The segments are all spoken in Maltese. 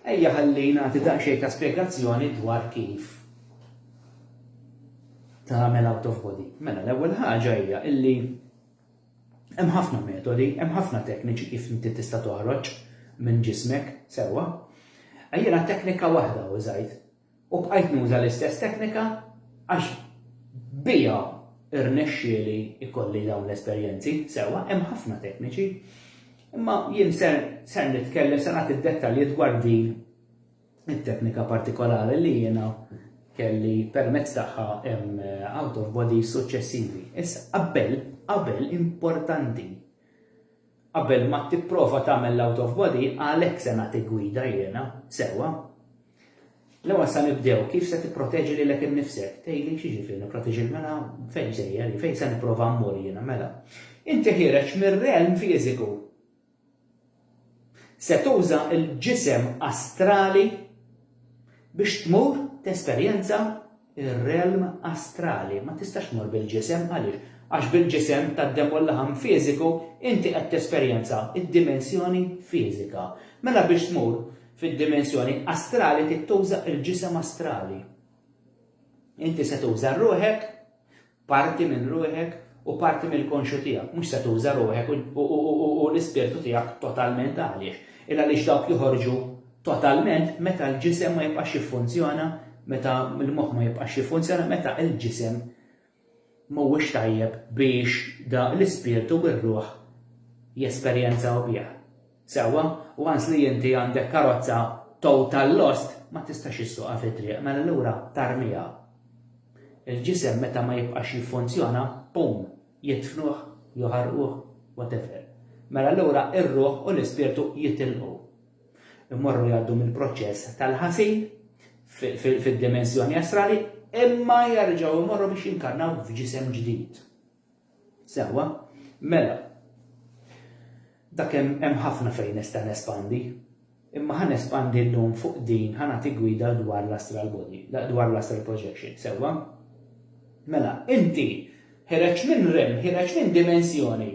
Ejja ħalli nagħti daqsxejn ta' spjegazzjoni dwar kif tagħmel out of body. Mela l-ewwel ħaġa hija illi hemm ħafna metodi, hemm ħafna tekniċi kif inti tista' toħroġ minn ġismek sewwa. Ejja teknika waħda użajt U bqajt nuża l-istess teknika għax biha rnexxieli jkolli dawn l-esperjenzi. Sewwa, hemm ħafna tekniċi. Imma jien ser ser nitkellem, se nagħti d-dettalji dwar din it-teknika partikolari li jiena kelli permezz tagħha hemm eh, out of body suċċessivi. Issa qabel, qabel importanti Qabel ma tipprova tagħmel l-out of body għalhekk se nagħtik gwida jiena, sewwa. L-ewwel sa nibdew kif se tipproteġi lilek innifsek. Tgħidli x'jiġifieri nipproteġi mela fejn sejjer, fejn se nipprova mmur jiena mela. Inti ħiereġ mir-realm fiżiku. Se tuża l-ġisem astrali biex tmur tesperjenza ir-realm astrali, ma tistax tmur bil-ġisem, għaliex? Għax bil-ġisem tad-demm u l-laħam fiżiku inti qed tesperjenza d-dimensjoni fiżika. Mela biex tmur fid-dimensjoni astrali trid tuża l-ġisem astrali. Inti se tuża ruħek Parti minn ruħek u parti mill-konxju tiegħek, mhux se tuża ruħek u l-ispirtu tiegħek totalment għaliex? Il għaliex dawk joħorġu totalment meta l-ġisem ma jibqax jiffunzjona, meta l-moħħ ma jibqax jiffunzjona, meta l-ġisem mhuwiex tajjeb biex da l-ispirtu u r-ruħ jesperjenzaw biha. Sewwa, once li inti għandek karozza total lost, ma tistax issuqha fit-triq, mela allura tarmiha. Il-ġisem meta ma jibqax jiffunzjona, boom, jidfnuh, joħarquh, whatever. Mela allura ir-ruħ u l-ispirtu jitilqu. Imorru jgħaddu mill-proċess tal-ħasil fid-dimensjoni astrali, imma jerġgħu jmorru biex jinkarnaw f'ġisem ġdid. Sewwa. Mela, dak hemm hemm ħafna fejn nista' nespandi. Imma ħa nespandi llum fuq din, ħa nagħti gwida dwar l-astral body, dwar l-astral projection. Sewwa. Mela, inti ħireġt minn realm, ħireġt minn dimensjoni.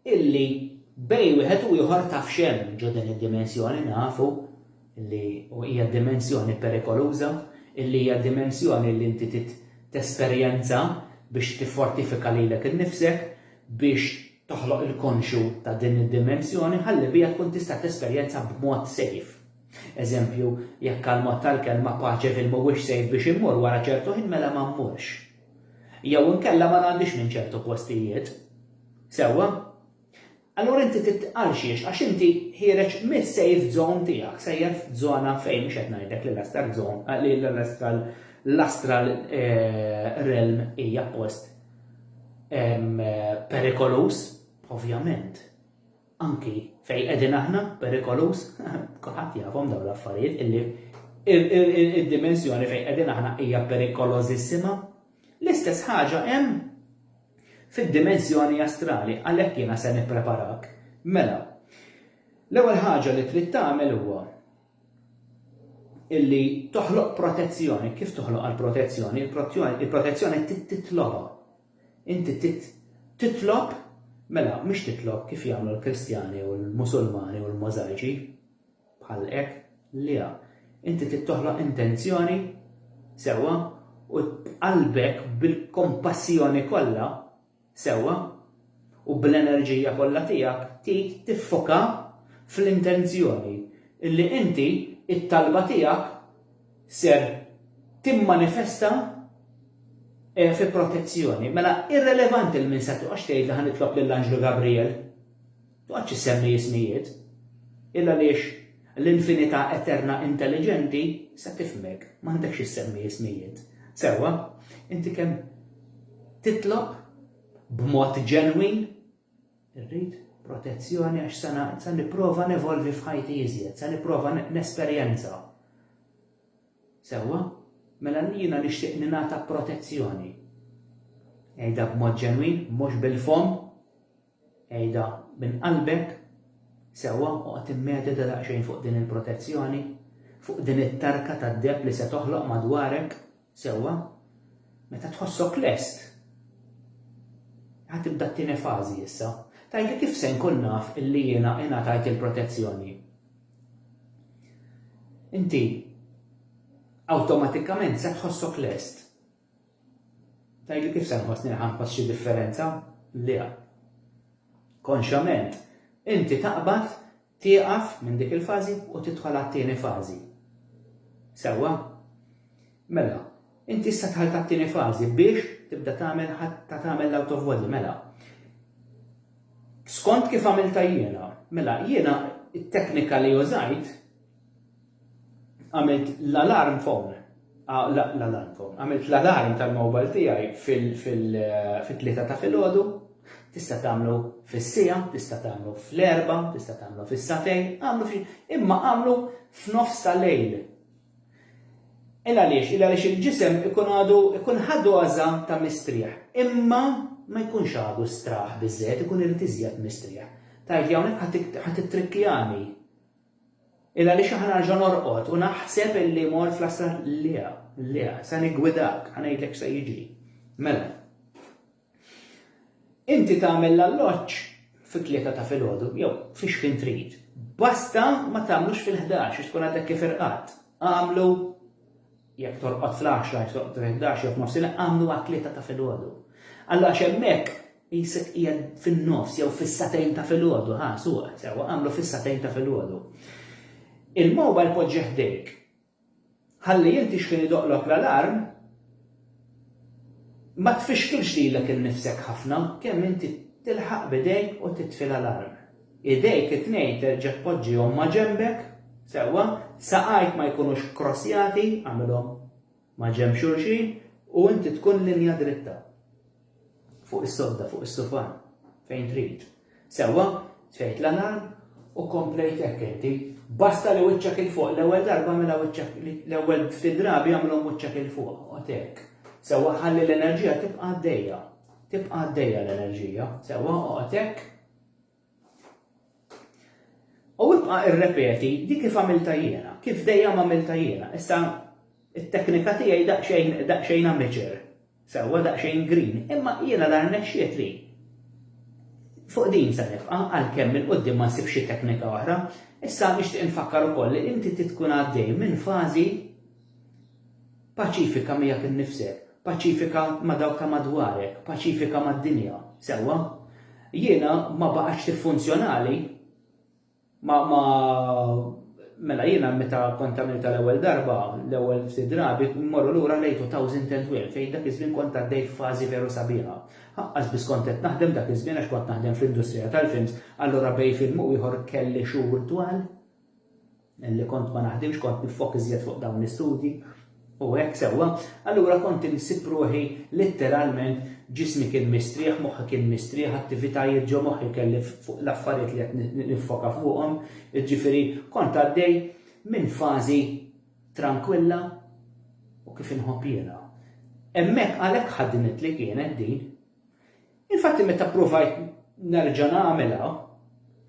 illi bejn wieħed u ieħor taf x'hemm ġo din id-dimensjoni, nafu li hija dimensjoni perikoluża, illi hija dimensjoni li inti trid tesperjenza biex tiffortifika lilek innifsek biex toħloq il-konxju ta' din id-dimensjoni ħalli biha tkun tista' tesperjenza b'mod sejf. Eżempju, jekk għall-mod tal-kelma paċeville mhuwiex sejf biex immur wara ċertu ħin mela ma mmurx. Jew inkella ma ngħaddix minn ċertu postijiet. Sewwa? Allura inti trid għal xiex? Għax inti ħiereġ mis-safe zone tiegħek, sejjer f'żona fejn mhux qed ngħidlek li l-astral zone, li l-astral l-astral eh, realm hija post eh, perikoluż, ovvjament. anki fejn qegħdin aħna, perikoluż, kulħadd jafhom dawn l-affarijiet illi id-dimensjoni fejn qegħdin aħna hija perikolożissima. L-istess ħaġa hemm fid-dimensjoni astrali għalhekk jiena se nippreparak. Mela, l-ewwel ħaġa li trid tagħmel huwa illi toħloq protezzjoni, kif toħloq għal protezzjoni, il-protezzjoni titlobha. Inti titlob, mela mhux titlob kif jagħmlu l-Kristjani u l-Musulmani u l-Możajċi, bħal hekk, le, inti trid toħloq intenzjoni sewwa u b'qalbek bil-kompassjoni kollha sewwa u bl-enerġija kollha tiegħek trid tiffoka fl-intenzjoni illi inti t-talba tiegħek ser timmanifesta eh, fi protezzjoni. Mela irrelevanti l-min se tuqax tgħid li ħanitlob lill-Anġlu Gabriel. Tuqax issemmi jismijiet. Illa liex l-infinità eterna intelligenti se tifmek, ma għandekx issemmi jismijiet. Sewa, inti kemm titlob b'mod ġenwin Irrid protezzjoni għax se na, se nipprova nevolvi f'ħajti iżjed, se nipprova nesperjenza. Sewwa? Mela jiena nixtieq ningħata protezzjoni. Ejda b'mod ġenwin, mhux bil-fom, ejda minn qalbek, sewwa oqgħod immedita daqsxejn fuq din il-protezzjoni, fuq din it-tarka tad-deb li se toħloq madwarek, Sewwa, meta tħossok lest, ħa tibda t-tieni fażi issa. Tgħidli kif se nkun naf illi jiena ingħatajt il-protezzjoni. Inti awtomatikament se tħossok lest. Tgħidli kif se nħossni ħanħoss xi differenza? Le. Konxjament, inti taqbad Tieqaf minn dik il-fażi u tidħol għat-tieni fażi. Sewwa? Mela, inti issa dħalt għat-tieni fażi biex tibda tagħmel ta' tagħmel l-out of body, mela. Skont kif għamilta jiena, mela jiena it-teknika li użajt għamilt l-alarm phone, ah, l-alarm phone, għamilt l-alarm tal-mobile tiegħi fil-tlieta eh, ta' filgħodu, tista' tagħmlu fis-sija, tista' tagħmlu fl-erba, tista' tagħmlu fis-satejn, għamlu fi, imma għamlu f'nofs ta' lejl. Illa għaliex, illa għaliex il-ġisem ikun għadu, ikun ħadu għaza ta' mistrieħ, imma ma jkunx għadu straħ bizzet, ikun irrid iżjed mistrieħ. Tajt hawnhekk ħadd ittrikkjani Illa għaliex aħna nerġa' norqod u naħseb illi mort fl-Astra Lea, Lea, se niggwidak, ħa ngħidlek x'se jiġri. Mela. Inti tagħmel l-alloġġ fit-tlieta ta' filgħodu, jew fiex ħin trid. Basta ma tagħmlux fil-ħdax, tkun għadek kif irqadt. Agħmlu jekk torqod fl-għaxra, jekk torqod fil-ħdax jew f'nofsinhar, għamlu għat-tlieta ta' filgħodu. Alla għax hemmhekk jisek hija fin-nofs jew fis-satejn ta' filgħodu, ha, suq, sewa, għamlu fis-satejn ta' filgħodu. Il-mobile poġġeħ dejk. Ħalli inti x'kien idoqlok l-alarm, ma tfixkilx lilek innifsek ħafna kemm inti tilħaq bidejk u titfi l-alarm. Idejk it-tnejn terġa' tpoġġihom ma' ġenbek, sewwa, saqajk ma jkunux kkrossjati, agħmilhom ma' ġenb xulxin, u inti tkun linja dritta. Fuq is-sodda, fuq is-sufan, fejn trid. Sewwa, tfejt l-alarm u komplejt hekk inti. Basta li wiċċek 'il fuq, l-ewwel darba agħmilha wiċċek, l-ewwel ftit drabi agħmilhom wiċċek 'il fuq, oqgħod hekk. Sewwa, ħalli l-enerġija tibqa' għaddejja. Tibqa' għaddejja l-enerġija. Sewwa, oqgħod hekk. U ibqa' irrepeti di kif għamilta jiena, kif dejjem għamilta jiena. Issa it-teknika tiegħi daqsxejn daqsxejn amateur, sewwa daqsxejn green, imma jiena l-aħħar nexxiet li fuq din se nibqa' għalkemm il quddiem ma nsibx xi teknika oħra. Issa nixtieq infakkar ukoll li inti trid tkun għaddej minn fażi Paċifika miegħek innifsek, paċifika ma' dawk ta' madwarek, paċifika mad-dinja. Sewwa? Jiena ma baqgħetx tiffunzjonali. Ma, ma, mela jiena meta kont għamilta l-ewwel darba, l-ewwel ftit drabi, mmorru lura lejn 2012 fejn dak iż-żmien kont għaddej f'fażi veru sabiħa. Ħaqqas biss kont qed naħdem dak iż-żmien għax kont naħdem fl-industrija tal-films, allura bejn film u ieħor kelli xhur twal. Milli kont ma naħdimx kont niffok iżjed fuq dawn l-istudji u hekk sewwa, allura kont insib ruħi litteralment ġismi kien mistrieħ, moħħi kien mistrieħ, attivitajiet ġo moħħi kelli fuq l-affarijiet li qed niffoka fuqhom, jiġifieri kont għaddej minn fażi trankwilla u kif inħobb jiena. Hemmhekk għalhekk ħaddimitli kienet din. Infatti meta pprovajt nerġa' nagħmilha,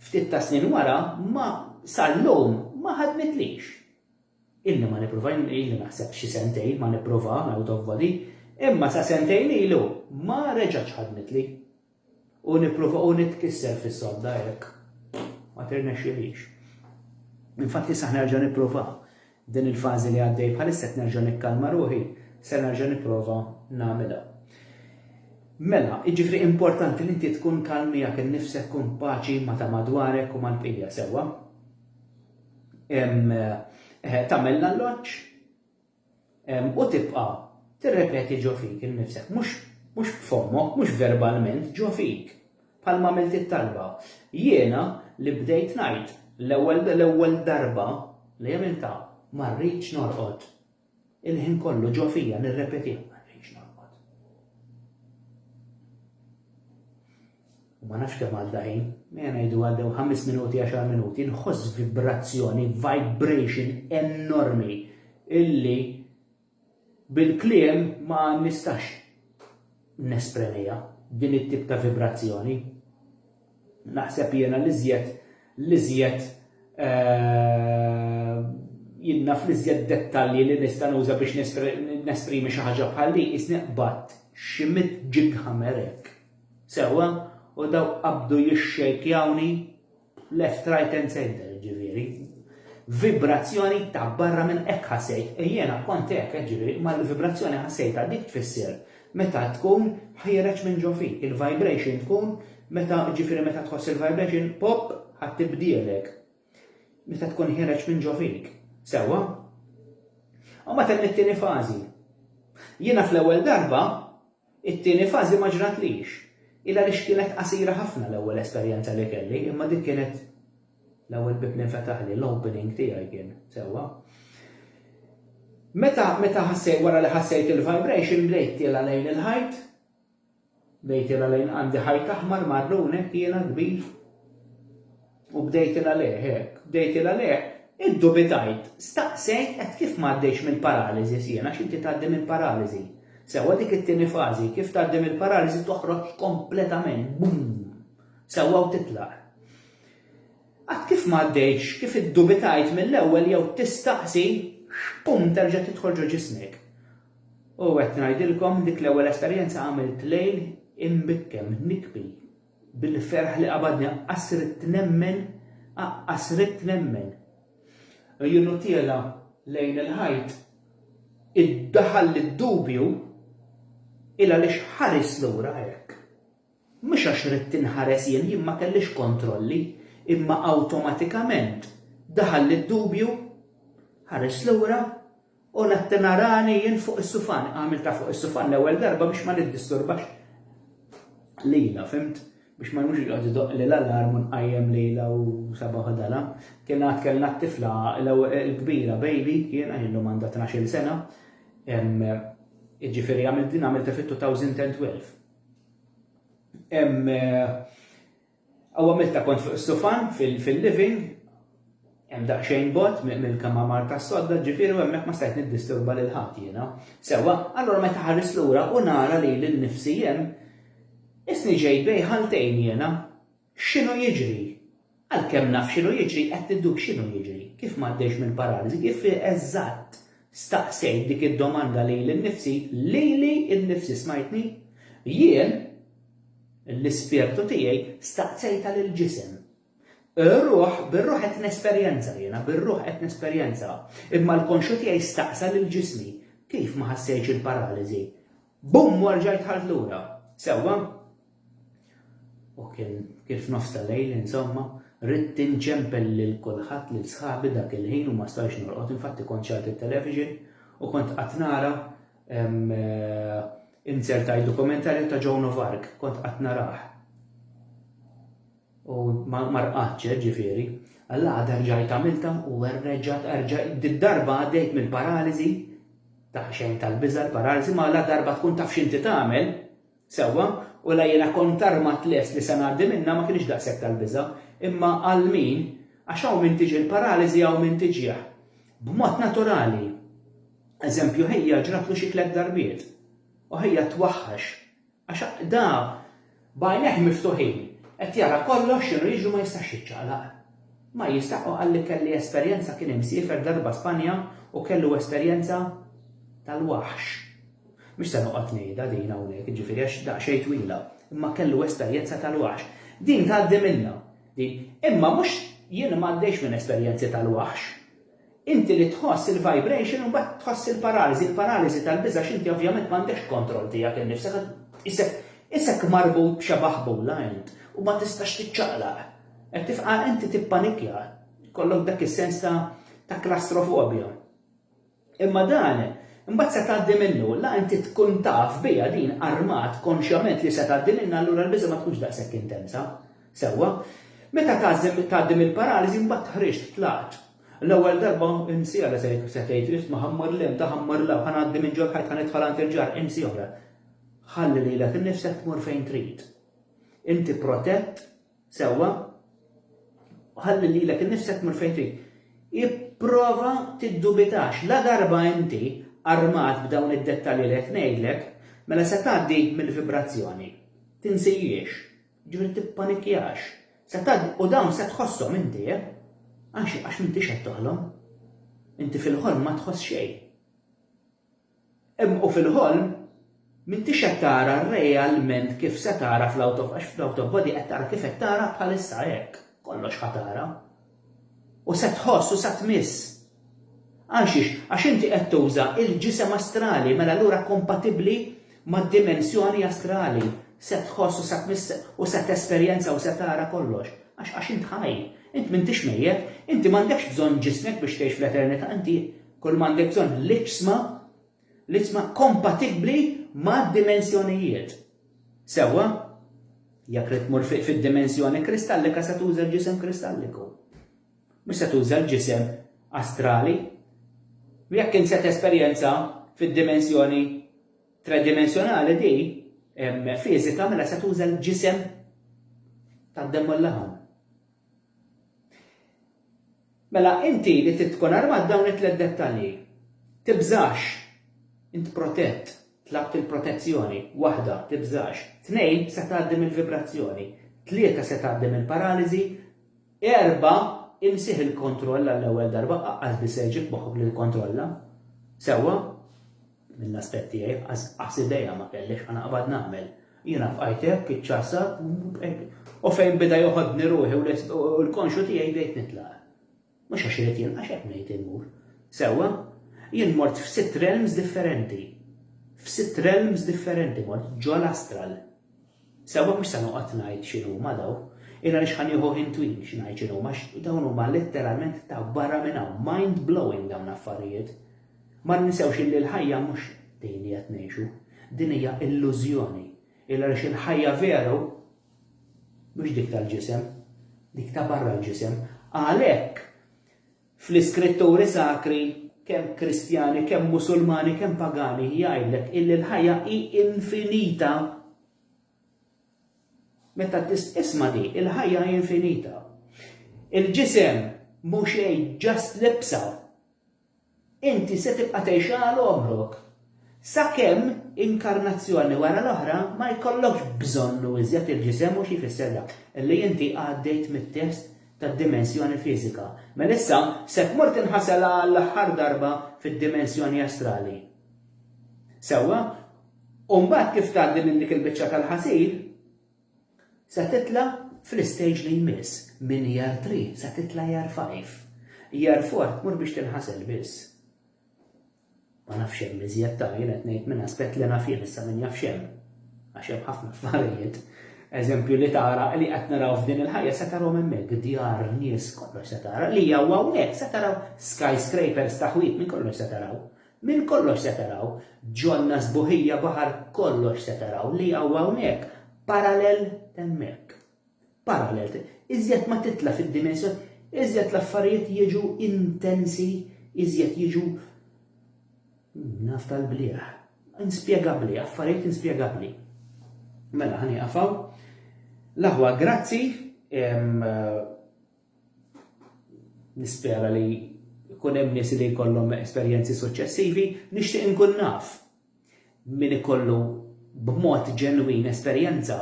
ftit ta' snin wara ma sal-lum ma ħadmitlix. Ilni ma nipprova, ilni naħseb xi sentejn ma nipprova out of body, imma sa sentejn ilu ma reġgħetx ħadmitli. U nipprova u nitkisser fis-sodda hekk. Ma tirnexxilix. Infatti sa nerġa' nipprova. Din il-fażi li għaddej bħalissa qed nerġa' nikkalma ruħi, ser nerġa' nipprova nagħmilha. Mela, jiġifieri importanti li inti tkun kalm miegħek innifsek, kun paċi ma' ta' madwarek u mal-bqija, sewwa? Tagħmel l-alloġġ u tibqa' tirrepeti ġo fik innifsek, mhux b'fommok, mhux verbalment, ġo fik. Bħalma għamilt it-talba. Jiena li bdejt ngħid l-ewwel l-ewwel darba li għamiltha ma rridx norqod. Il-ħin kollu ġo fija nirrepetiha ma rridx norqod. U ma nafx kemm għadda ħin, minn ngħidu għaddew 5 minuti 10 minuti, nħoss vibrazzjoni, vibration enormi illi Bil-kliem ma nistax nespremiha, din it-tip ta' vibrazzjoni. Naħseb jiena l-iżjed, l-iżjed, jien naf l-iżjed dettalji li nista' nuża biex nesprimi xi ħaġa bħal din, qisni qbadt xi mitt ġighammer hekk, sewwa, u dawk qabdu jixxejkjawni Left right and center jiġifieri. Vibrazzjoni ta' barra minn hekk ħassejt, e jiena kont hekk jiġifieri ma l-vibrazzjoni ħassejtha dik tfisser meta tkun ħiereġ minn ġo fik, il-vibration tkun meta jiġifieri meta tħoss il-vibration pop ħadd tibdielek. Meta tkun ħiereġ minn ġo fik. Sewwa? U ma temm it-tieni fażi. Jiena fl-ewwel darba It-tieni fażi ma ġratlix. Hi għaliex kienet qasira ħafna l-ewwel esperjenza li kelli, imma dik kienet l-ewwel bieb li nfetaħli, l-opening tiegħi kien, sewwa. Meta, meta ħassejt, wara li ħassejt il-vibration, bdejt tiela' lejn il-ħajt, bdejt tiela' lejn, għandi ħajt aħmar marrun hekk jiena kbir, U bdejt il għalih hekk, bdejt il għalih, iddubitajt, staqsejt qed kif m'għaddejtx mill-paraliżi si għax inti tgħaddi minn paraliżi. Sewwa dik it-tieni fażi, kif tgħaddi mill-paraliżi toħroġ kompletament, bum! Sewwa u titlaq. Għad kif m'għaddejtx, kif iddubitajt mill-ewwel jew tistaqsi, xpum terġa' tidħol ġo ġismek. U qed ngħidilkom dik l-ewwel esperjenza għamilt lejl imbikkem, nikbi, Bil-ferħ li qabadni aqqas ridt nemmen, aqqas ridt nemmen. Għjunu tiela' lejn il-ħajt, iddaħalli d-dubju, il għaliex ħarist lura hekk. Mhux għax ridt inħares jien, jien ma kellix kontrolli, imma awtomatikament daħalli d-dubju, ħarist lura, U latt narani jien fuq is-sufan, għamiltha fuq is-sufan l-ewwel darba biex ma niddisturbax lilha, fhimt? Biex ma jkunx joqgħod idoqq li l-alarm u nqajjem lilha u sabaħ u dala. Kien għad kellna t-tifla l-kbira baby, jiena jien llum għandha tnax-il sena, jiġifieri għamilt din għamiltha fit-2012. Hawn għamiltha kont fuq is-sufan fil-living, hemm daqsxejn bogħod mill-kmamar tas-sodda, ġifieri u hemmhekk ma stajt niddisturba lil ħadd jiena. Sewwa, allura meta ħarist lura u nara lili nnifsi hemm, qisni ġejt bejn ħaltejn jiena. X'inhu jiġri? Għalkemm naf x'inhu jiġri, qed niddub x'inhu jiġri. Kif m'għaddejtx mill-paraliżi, kif eżatt staqsejt dik id-domanda lili nnifsi, lili nnifsi, smajtni? Jien, L-ispirtu tiegħi staqsejtha lill-ġisem. Ir-ruħ, bir-ruħ qed nesperjenza jiena, bir-ruħ qed nesperjenza. Imma l-konxju tiegħi staqsa lil ġismi, Kif ma ħassejtx il-paraliżi? Bum u rġajt dħalt lura. Sewwa? U kien kif f'nofs tal-lejl, insomma, ridt inċempel lil kulħadd lil sħabi dak il-ħin u ma stajtx norqod, infatti kont xagħlt it-television u kont qatt nara Insert tgħid dokumentarju ta' Joan of Arc, kont qatt narah. U ma rqadx eh, ġifieri. Alla għadha rġajt għamiltha u rreġgħat erġa' darba għaddejt minn paraliżi ta' xejn tal-biża' l-paraliżi ma la darba tkun taf x'inti tagħmel, Sewwa, u la jiena kont armat lest li se ngħaddi minnha ma kinitx daqshekk tal-biża', imma għal min, għax hawn min tiġi l-paraliżi hawn min tiġih. B'mod naturali. Eżempju ħija ġratlu xi tliet darbiet. U ħija twaħħax. Għax da b'għajnejh miftuħin qed jara kollox x'inhu jiġri ma jistax jiċċaqlaq. Ma jista' u qalli kelli esperjenza kien imsiefer darba Spanja u kellu esperjenza tal-waħx. Mhux se noqgħod ngħidha din hawnhekk, jiġifieri għax daqsxejn twila, imma kellu esperjenza tal-waħx. Din tgħaddi minnha, din. Imma mhux jien ma għaddejtx minn esperjenzi tal-waħx. Inti li tħoss il-vibration imbagħad tħoss il-paraliżi, il-paraliżi tal-biża' għax inti ovvjament m'għandekx kontroll tiegħek innifsek għax tqisek isek marbut b'xi baħbula int u ma tistax tiċċaqlaq. Qed tifqa' inti tippanikja, jkollok dak is-sens ta' ta' klastrofobja. Imma dan, imbagħad se tgħaddi minnu, la inti tkun taf biha din armat konxjament li se tgħaddi minnha allura l-biża' ma tkunx daqshekk intensa. Sewwa. Meta tgħażżem tgħaddi mill-paraliżi imbagħad ħriġt, tlaqt. L-ewwel darba insiha se tgħid, ridt ma ħammar 'l hemm, taħammar 'l hawn, ħa ngħaddi minn ġol ħajt ħa nidħol għand il-ġar, insi oħra. Ħalli lilek innifsek tmur fejn trid. Inti protett. Sewwa, u ħalli lilek innifsek tmur fejn trid. Ipprova tiddubitax, la darba inti armat b'dawn id-dettalji li qed ngħidlek, mela se tgħaddi mill-vibrazzjoni. Tinsihiex, ġifieri tippanikjax. Se tgħaddi u dawn se tħosshom inti, eh? Għax għax m'intix qed toħlom. Inti fil-ħolm ma tħoss xejn. Hemm u fil-ħolm m'intix qed tara realment kif se tara fl-out of għax fl-out of body qed tara kif qed tara bħalissa hekk kollox ħa tara. U se tħoss u sa tmiss. Għalxiex? Għax inti qed tuża il-ġisem astrali mela allura kompatibbli mad-dimensjoni astrali. Se tħoss u sa tmiss u se tesperjenza u se tara kollox. Għax għax int ħaj. Int m'intix mejjet. Inti m'għandekx bżonn ġismek biex tgħix fl-eternità inti Kull ma għandek bżonn l-iġsma, l-iġsma kompatibbli mad-dimensjonijiet. Sewwa, jekk trid tmur fid-dimensjoni kristallika se tuża l-ġisem kristalliku. Mhux se tuża l-ġisem astrali. Jekk int se tesperjenza fid-dimensjoni tredimensjonali di fiżika mela se tuża l-ġisem tad-demm u l-laħam. Mela inti li trid tkun armat dawn it-tliet dettalji. Tibżax. Int protett. Tlabt il-protezzjoni. Waħda, tibżax. Tnejn, se tgħaddi mill-vibrazzjoni. Tlieta se tgħaddi mill-paraliżi. Erba', imsih il-kontroll għall-ewwel darba, aqqas biss se jġib moħħok li tikkontrolla. Sewwa? Mill-aspett tiegħi, qas idea ma kellix x'ħa naqbad nagħmel. Jiena bqajt hekk, iċċasat, u fejn beda joħodni ruħi u l-konxju tiegħi bdejt nitlaq. Mhux għax irid jien, għax hekk ngħid immur. Sewwa, jien mort f'sitt realms differenti. F'sitt realms differenti mort ġol astral. Sewwa mhux se noqgħod ngħid x'inhuma daw, Illa li xħan juhu hintwin xinajċinu, max dawn huma letteralment ta' barra minna, mind blowing dawn affarijiet. Ma ninsewx illi l-ħajja mhux din li qed ngħixu. Din hija illużjoni. Il għaliex il-ħajja veru mhux dik tal-ġisem, dik ta' barra l-ġisem. Għalhekk fl-iskritturi sakri kemm Kristjani, kemm Musulmani, kemm pagani jgħidlek illi l-ħajja hi infinita. Meta tisma' di, il-ħajja hi infinita. Il-ġisem mhux xejn ġast libsa Inti se tibqa' tgħix għal għomrok, sakemm inkarnazzjoni wara l-oħra ma jkollokx bżonnu iżjed il-ġisem u xi jfisser dak, li inti għaddejt mit-test tad-dimensjoni fiżika. Mela issa se tmur tinħasel għall-aħħar darba fid-dimensjoni astrali. Sewwa? U mbagħad kif tgħaddi minn dik il-biċċa tal-ħasil, Se titla' fl-istage li jmiss. Minn Year Three se titla' Year Five. Year Four tmur biex tinħasel biss. Ma nafx hemm iżjed ta' jien qed ngħid minn aspett li naf jien issa min jaf x'hemm. Għax hemm ħafna affarijiet. Eżempju li tara li qed naraw f'din il-ħajja se tarahom hemmhekk, djar, nies, kollox se tara. Li hawn hawnhekk se taraw skyscrapers ta' ħwienet minn kollox se taraw. Minn kollox se taraw, ġonna sbuħija baħar kollox se taraw li hawn hawnhekk parallel t'hemmhekk. Parallel, iżjed ma titla' fid-dimensjon, iżjed l-affarijiet jiġu intensi, iżjed jiġu naf tal-bliegħ. Inspjegabbli, affarijiet inspjegabbli. Mela ħani qafaw. L-aħwa grazzi Nispera li jkun hemm nies li jkollhom esperjenzi suċċessivi, nixtieq inkun naf min ikollu b'mod ġenwin esperjenza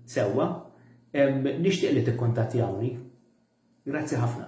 sewwa, nixtieq li tikkuntattjawni. Grazzi ħafna.